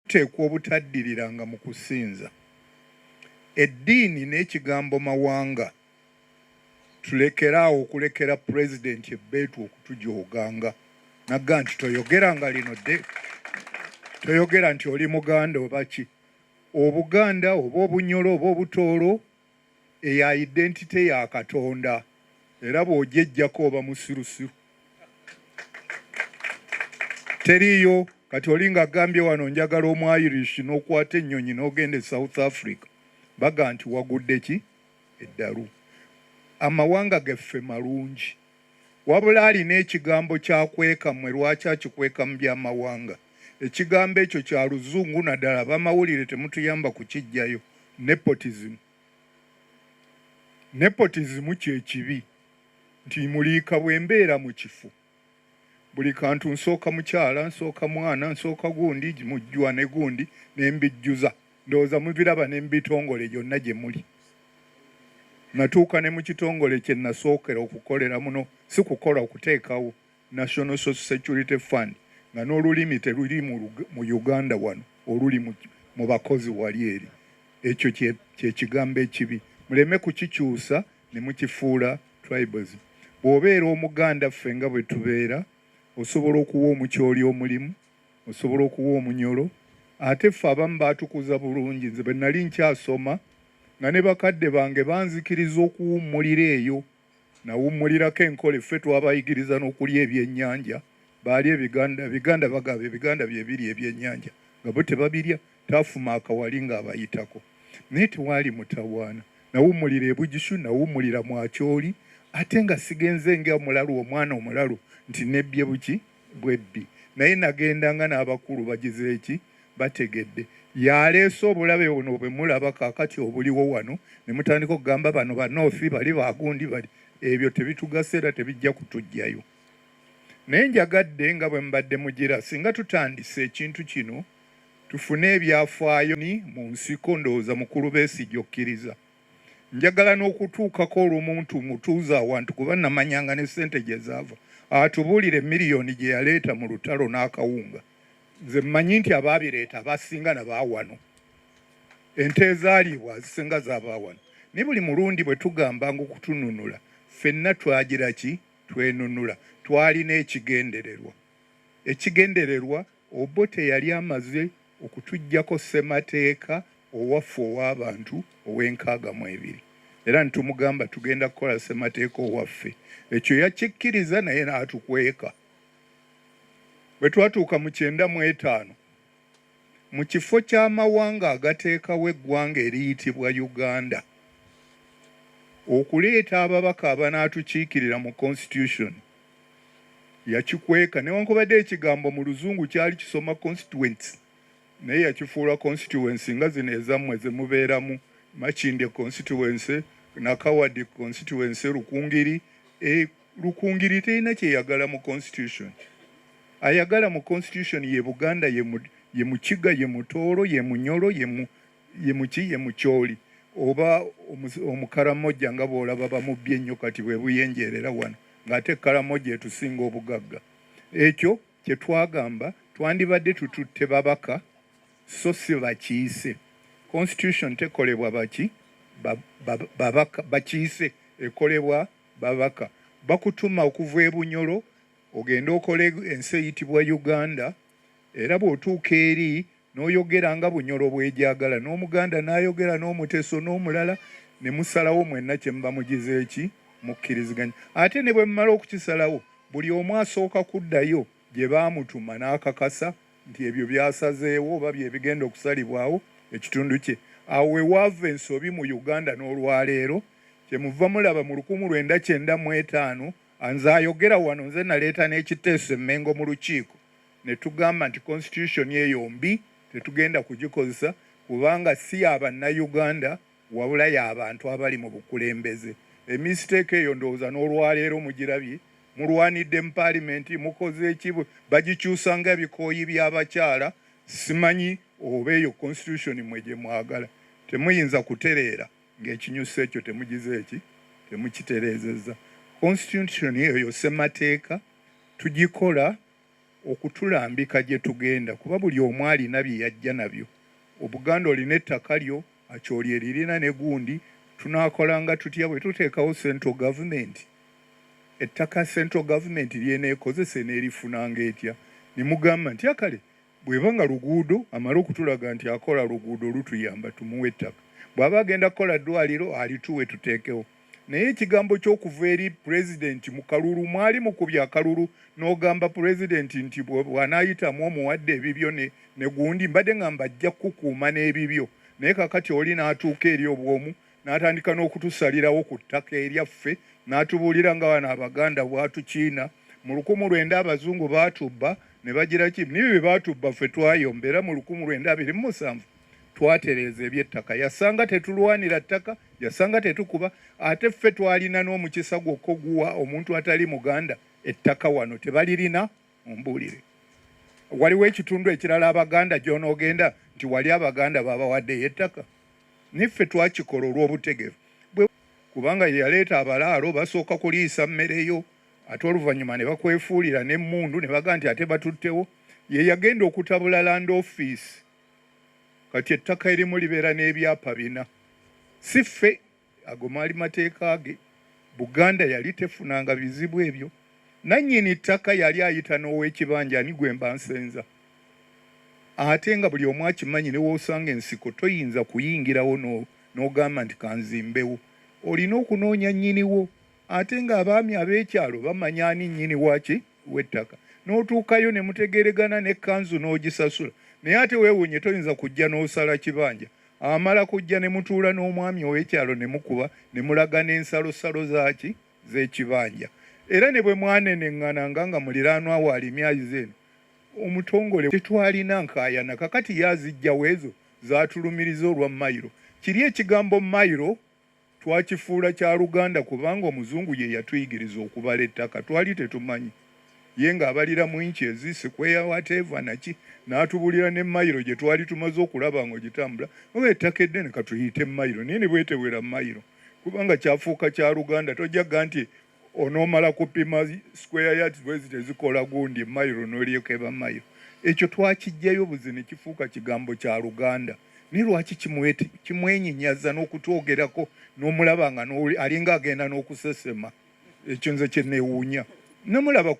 Tuteekwa obutaddiriranga mu kusinza eddiini n'ekigambo mawanga. Tulekere awo okulekera Pulezidenti ebbeetu okutujooganga nagga nti toyogera nga lino dde toyogera nti oli Muganda oba ki Obuganda oba Obunyolo oba Obutooro eya identity ya Katonda era bw'ogyejjako oba musirusiru. Teriiyo kati oli nga gambye wano njagala omwayirishi n'okwata ennyonyi n'ogenda e South Africa baga nti wagudde ki eddalu. Amawanga gaffe malungi. Wabula alina ekigambo ky'akweka mmwe lwaki akikweka mu by'amawanga? Ekigambo ekyo kya Luzungu naddala abamawulire temutuyamba kukiggyayo. Nepotism. Nepotism kye kibi nti muliika bwe mbeera mu kifo buli kantu nsooka mukyala, nsooka mwana, nsooka gundi, mujjwa ne gundi ne mbijjuza. ndowooza mubiraba ne mu bitongole gyonna gye muli natuuka ne mu kitongole kye nasookera okukolera muno si kukola okuteekawo national social security fund nga n'olulimi teruli mu uganda wano oluli mu bakozi wali eri ekyo kyekigambo ekibi muleme kukikyusa ne mukifuula tribalism bw'obeera omuganda ffe nga bwe tubeera osobola okuwa omukyoli omulimu osobola okuwa omunyolo ate ffe abamu baatukuza bulungi nze bwe nali nkyasoma nga ne bakadde bange banzikiriza okuwummulira eyo nawummulirako enkole ffe twabayigiriza n'okulya ebyennyanja baali ebiganda ebiganda bagaba ebiganda byebiri ebyennyanja nga bo tebabirya taafuma akawali ng'abayitako naye tewaali mutawaana nawummulira ebugishu nawummulira mwakyoli ate nga sigenze nga omulalu omwana omulalu nti nebbye buki bwebbi naye nagenda nga n'abakulu bagize eki bategedde yaleese obulabe buno bwe mulaba kakati obuliwo wano ne mutandika okugamba bano banoofi bali bagundi bali ebyo tebitugasa era tebijja kutujjayo naye njagadde nga bwe mubadde mugira singa tutandise ekintu kino tufune ebyafaayo ni mu nsiko ndowooza mukulu besigye okkiriza njagala n'okutuukako olumuntu mutuuza awantu kuba namanyanga ne ssente gye zaava atubuulire miliyoni gye yaleeta mu lutalo n'akawunga nze mmanyi nti abaabireeta abasinga nabaawano ente ezaaliibwa azisinga zabaawano naye buli mulundi bwe tugambanga okutununula ffenna twagira ki twenunula twalina ekigendererwa ekigendererwa Obote yali amaze okutuggyako ssemateeka owaffe ow'abantu ow'enkaaga mu ebiri era ne tumugamba tugenda kukola ssemateeka owaffe. Ekyo yakikkiriza naye n'atukweka. Bwe twatuuka mu kyenda mu etaano, mu kifo ky'amawanga agateekawo eggwanga eriyitibwa Uganda okuleeta ababaka abanaatukiikirira mu Konsitityusoni, yakikweka newankubadde ekigambo mu luzungu kyali kisoma constituents naye yakifuula constituency nga zino ezammwe zemubeeramu makindye constituency nakawadi constituency lukungiri e, lukungiri terina kyeyagala mu constitution ayagala mu constitution ye buganda ye mukiga ye mutooro ye munyolo ye mu ye muki ye mukyoli oba omukaramojja nga bwolaba bamubbi ennyo kati bwebuyenjeerera wano ng'ate karamojja etusinga obugagga ekyo kye twagamba twandibadde tututte babaka so si bakiise constitution tekolebwa baki babaka bakiise ekolebwa babaka bakutuma okuva e bunyolo ogende okole ensi eyitibwa uganda era bw'otuuka eri N'oyogera nga Bunyoro bwegyagala, n'Omuganda n'ayogera n'Omuteso n'omulala ne musalawo mwenna kye muba mugize ki, mukkiriziganya. Ate ne bwe mumala okukisalawo, buli omu asooka kuddayo gye baamutuma n'akakasa nti ebyo by'asazeewo oba bye bigenda okusalibwawo ekitundu kye. Awo we waava ensobi mu Uganda n'olwaleero. Kye muva mulaba mu lukumu lwenda kyenda mu etaano, nze ayogera wano nze naleeta n'ekiteeso e Mmengo mu Lukiiko. ne tugamba nti Constitution eyo mbi tetugenda kugikozesa kubanga si ya Bannayuganda wabula ya bantu abali mu bukulembeze. Emistake eyo ndowooza n'olwaleero mugirabye, mulwanidde mu Paalimenti, mukoze ki, bagikyusa nga bikooyi by'abakyala, simanyi oba eyo Constitution mmwe gye mwagala. Temuyinza kutereera ng'ekinyusi ekyo temugize ki, temukitereezezza. Constitution eyo ssemateeka tugikola. okutulambika gyetugenda kuba buli omu alina byeyajja nabyo obuganda olina ettaka lyo acholi eririna ne gundi tunakolanga tutya bwetutekawo central government ettaka central government lyenekozese nerifunanga etya nemugamba nti akale Bweba nga luguudo amale okutulaga nti akola luguudo olutuyamba tumuwe ettaka. Bwaba agenda kukola ddwaliro alituwe tuteekewo. Naye ekigambo ky'okuva eri pulezidenti mu kalulu mwali mukubye akalulu n'ogamba pulezidenti nti bw'anaayitamu omuwadde ebibyo ne gundi. Mbadde ng'amba ajja kukukuuma n'ebibyo naye kaakati oli n'atuuka eri obw'omu n'atandika n'okutusalirawo ku ttaka eryaffe n'atubuulira nga bano abaganda bwatukiina mu lukumu lwenda abazungu baatubba ne bagira ki nibi bye baatubba ffe twayomba era mu lukumu lwenda abiri mu musanvu twatereeza ebyettaka yasanga tetulwanira ttaka yasanga tetukuba ate ffe twalina n'omukisa gwokka oguwa omuntu atali muganda ettaka wano tebalirina Mumbuulire, waliwo ekitundu ekirala Abaganda gy'onoogenda nti wali Abaganda baabawaddeyo ettaka? Naye ffe twakikola olw'obutegevu bwe, kubanga ye yaleeta abalaalo basooka kuliisa mmere yo ate oluvannyuma ne bakwefuulira n'emmundu ne bagamba nti ate batuttewo. Ye yagenda okutabula Land Office kati ettaka erimu libeera n'ebyapa bina, si ffe. Ago maali mateeka ge. Buganda yali tefunanga bizibu ebyo. Nannyini ttaka yali ayita n'owekibanja ani gwe mba nsenza? Ate nga buli omu akimanyi ne w'osanga ensiko toyinza kuyingirawo n'ogamba nti kanzimbewo. Olina okunoonya nnyiniwo. Ate nga abaami ab'ekyalo bamanya ani nnyini waki? w'ettaka n'otuukayo ne mutegeeregana ne kanzu n'ogisasula naye ate weewunye toyinza kujja n'osala kibanja amala kujja ne mutuula n'omwami ow'ekyalo ne mukuba ne mulaga n'ensalosalo zaaki z'ekibanja era ne bwe mwaneneng'ananga nga muliraanwa waali emyayizi eno omutongole tetwalina nkaayana kakati ye azijjawo ezo zaatulumiriza olwa mayiro kiri ekigambo mayiro Twakifuula kya Luganda kubanga Omuzungu ye yatuyigiriza okubala ettaka. Twali tetumanyi. Ye ng'abalira mu inches, square, whatever, na ki, n'atubuulira ne mayiro gye twali tumaze okulaba ng'ogitambula, oba ettaka eddene ka tuliyite mayiro naye ne bwetewera mayiro, kubanga kyafuuka kya Luganda. Tojja gga nti, onomala kupima square yards bwezi tezikola gundi mairo nolyekeba mayo ekyo twakijjayo buzi nekifuuka kigambo kya luganda naye lwaki kimwenyinyaza n'okutwogerako n'omulaba nga alinga agenda n'okusesema ekyo nze kyenewuunya namulaba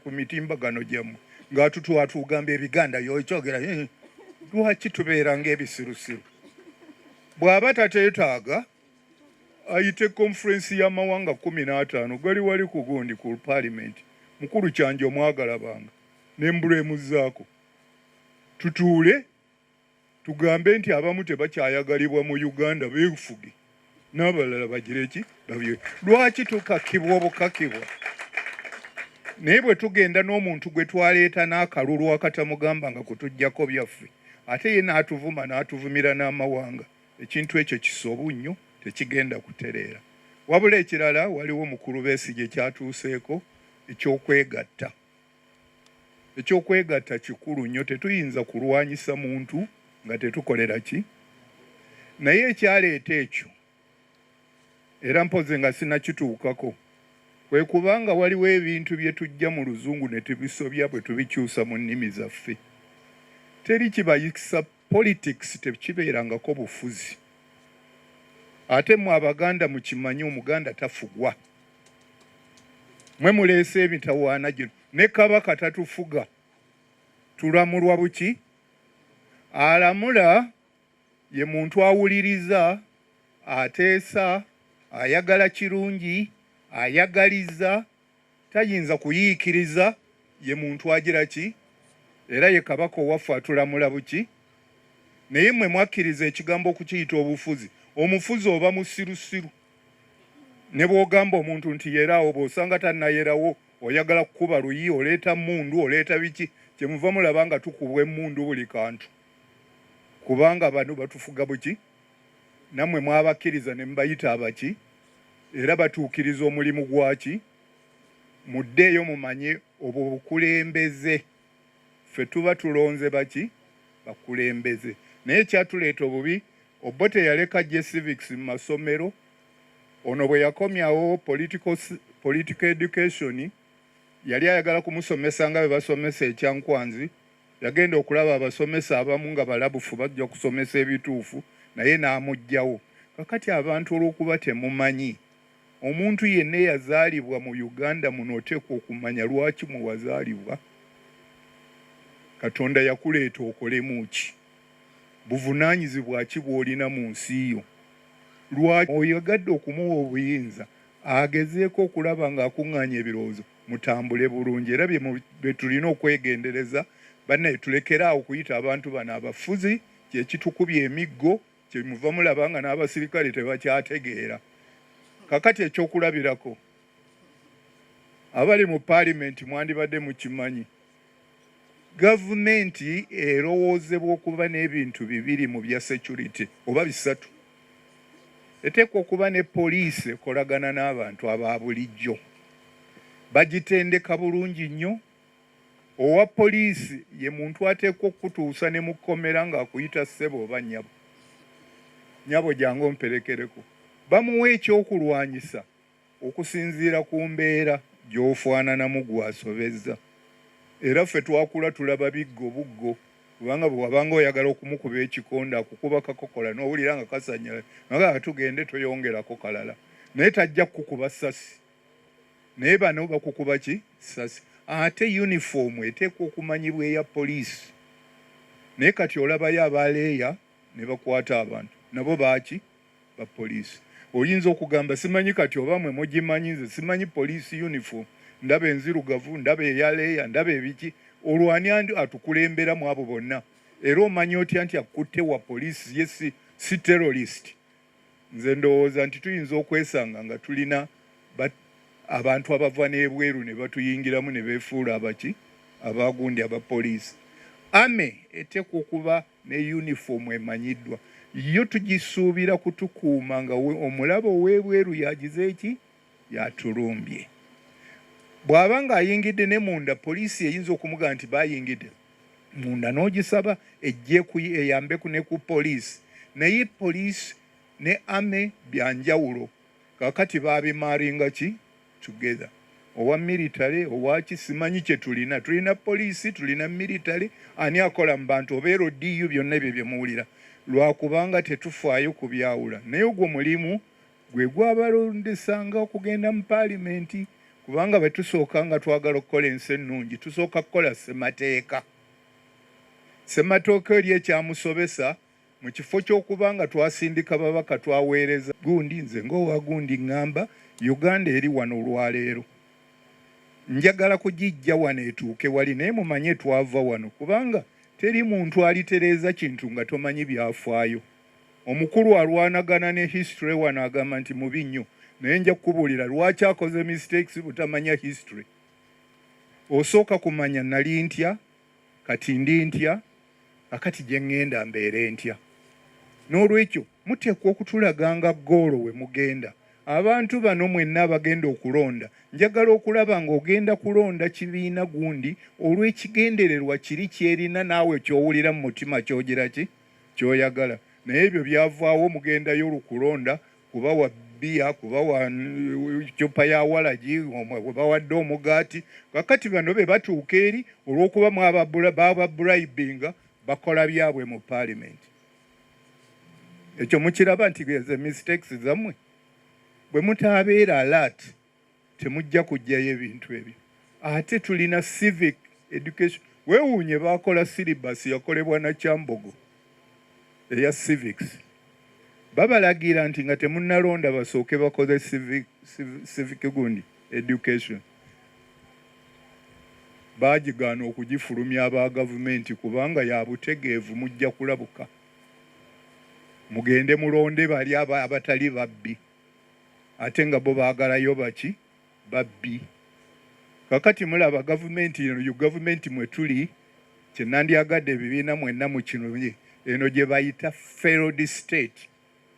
ku mitimbagano gyammwe ngaatutwatugamba ebiganda yokyogera eh, lwaki tubeera ngaebisirusiru bw'aba tateetaaga ayite conference y'amawanga kumi n'ataano gali wali ku gundi ku palimenti mukulu kyanja omwagala banga nembulemuzaako tutuule tugambe nti abamu tebakyayagalibwa mu uganda befuge n'abalala bagire ki babye lwaki tukakibwa obukakibwa naye bwe tugenda n'omuntu gwe twaleeta n'akalulu akatamugamba nga kutujjako byaffe ate ye n'atuvuma n'atuvumira n'amawanga Ekintu ekyo kisobu nnyo, tekigenda kutereera. Wabula ekirala waliwo mukulu Besigye kyatuuseeko eky'okwegatta. Eky'okwegatta kikulu nnyo, tetuyinza kulwanyisa muntu nga tetukolera ki? Naye ekyaleeta ekyo era mpozi nga sinakituukako kwe kuba nga waliwo ebintu bye tujja mu luzungu ne tubisobya bwe tubikyusa mu nnimi zaffe teri kibayisa Politics tekibeerangako bufuzi ate mwe abaganda mukimanye omuganda tafugwa mwe muleese emitawaana gino ne kabaka tatufuga tulamulwa buki alamula ye muntu awuliriza ateesa ayagala kirungi ayagaliza tayinza kuyiikiriza ye muntu agira ki era ye kabaka owaffe atulamula buki naye mwe mwakkiriza ekigambo okukiyita obufuzi omufuzi oba musirusiru ne bw'ogamba omuntu nti yeraawo bw'osanga tannayerawo oyagala kukuba luyi oleeta mmundu oleeta biki kyemuva mulaba nga tukubwa emmundu buli kantu kubanga bano batufuga buki Nammwe mwabakkiriza ne mubayita abaki? Era batuukiriza omulimu gwaki? Muddeeyo mumanye obwo bukulembeze. Ffe tuba tulonze baki? Bakulembeze. Naye ekyatuleeta obubi, Obote yaleka aggye civics mu masomero. Ono bwe yakomyawo political, political education yali ayagala kumusomesa nga bwe basomesa e Kyankwanzi Yagenda okulaba abasomesa abamu nga balabufu bajja kusomesa ebituufu naye n'amuggyawo. Kakati abantu olw'okuba temumanyi, omuntu yenna eyazaalibwa mu Uganda muno oteekwa okumanya lwaki mwe wazaalibwa, Katonda yakuleeta okolemu ki, buvunaanyizibwa ki bw'olina mu nsi yo, lwaki oyagadde okumuwa obuyinza agezeeko okulaba ng'akuŋŋaanya ebirowoozo mutambule bulungi era byetulina okwegendereza banaye tulekeraawo okuyita abantu bano abafuzi kyekitukubya emiggo kyemuva mulaba nga n'abasirikale tebakyategeera kakati ekyokulabirako abali mu paalimenti mwandibadde mukimanyi gavumenti erowoozebwa okuba n'ebintu bibiri mu bya security oba bisatu eteekwa okuba ne poliisi ekolagana n'abantu aba bulijjo bagitendeka bulungi nnyo owa poliisi ye muntu ateekwa okukutuusa ne mu kkomera ng'akuyita ssebo oba nyabo nyabo jangu omperekereko bamuwa ekyokulwanyisa Okusinziira ku mbeera gy'ofaananamu gwe asobezza era ffe twakula tulaba biggo buggo kubanga bwe wabanga oyagala okumukuba ekikonde akukuba kakokola n'owulira nga kasannyalaze nagamba tugende toyongerako kalala naye tajja kukukuba ssasi naye bano bakukuba ki ssasi ate yunifoomu eteekwa okumanyibwa eya poliisi naye kati olabayo abaleeya ne bakwata abantu nabo baaki ba police oyinza okugamba simanyi kati oba mwe mugimanyi nze simanyi police uniform ndaba enzirugavu ndaba eyaleeya ndaba ebiki olwani andi atukulembera mu abo bonna era omanya otya nti akutte wa police ye si, si terrorist nze ndowooza nti tuyinza okwesanga nga tulina abantu abava n'ebweru ne batuyingiramu ne beefuula abaki abaagundi aba police ame eteekwa okuba ne yunifoomu emanyiddwa yo tugisuubira kutukuuma nga omulabe ow'ebweru yagize eki yatulumbye bw'aba ng'ayingidde ne munda poliisi eyinza okumugamba nti bayingidde munda n'ogisaba ejje eyambeku ne ku poliisi naye poliisi ne ame byanjawulo kakati babimaringa ki together owa military owaki simanyi kyetulina tulina poliisi tulina military ani akola mu bantu obeera odiyu byonna ebyo byemuwulira lwakubanga tetufaayo ku byawula naye ogwo mulimu gwe gwabalondesanga okugenda mu paalimenti kubanga bwetusooka nga twagala okukola ensi ennungi tusooka kukola ssemateeka ssematooka eri ekyamusobesa Mu kifo ky'okuba nga twasindika babaka twaweereza gundi. Nze ng'owa gundi ng'amba Uganda eri wano olwaleero. Njagala kugiggya wano etuuke wali naye mumanye twava wano kubanga teri muntu alitereeza kintu nga tomanyi byafaayo. Omukulu alwanagana ne history wano agamba nti mubi nnyo naye nja kukubuulira lwaki akoze mistakes butamanya history. Osooka kumanya nali ntya? Kati ndi ntya? Kakati gye ŋŋenda mbeere ntya? N'olwekyo, muteekwa okutulaganga ggoolo we mugenda. Abantu bano mwenna abagenda okulonda, njagala okulaba nga ogenda kulonda kibiina gundi olw'ekigendererwa kiri ky'erina naawe ky'owulira mu mutima ky'ogira ki? Ky'oyagala. Naye ebyo byavaawo, mugendayo lu kulonda kuba wa bbiya kuba wa ccupa ya walagi we bawadde omugaati kakati bano be batuuka eri olw'okuba bababurayibinga bakola byabwe mu paalimenti ekyo mukiraba nti ze mistakes zammwe bwe mutaabeera alaati temujja kujjayo ebintu ebyo ate tulina civic education wewuunye bakola silibasi yakolebwa na kyambogo eya civics babalagira nti nga temunalonda basooke bakoze civic, civic, civic gundi education baagigaana okugifulumya aba gavumenti kubanga ya butegeevu mujja kulabuka mugende mulonde bali abatali babbi ate nga bo baagalayo baki babbi kakati mulaba gavumenti eno gavumenti mwe tuli kyenandyagadde ebibiina mwenna mu kino eno gye bayita failed state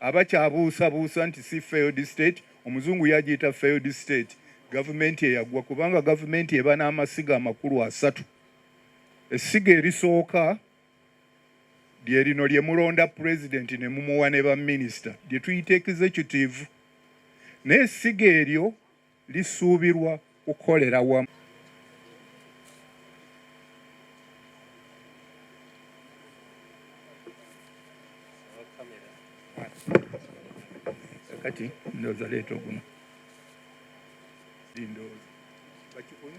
abakyabuusabuusa nti si failed state omuzungu yagiyita failed state gavumenti eyagwa kubanga gavumenti eba n'amasiga amakulu asatu essiga erisooka lye lino lye mulonda pulezidenti ne mumuwa ne baminisita lye tuyita executive naye essiga eryo lisuubirwa kukolera wamu kati ndowooza leeta oguno ndowooza bakikuni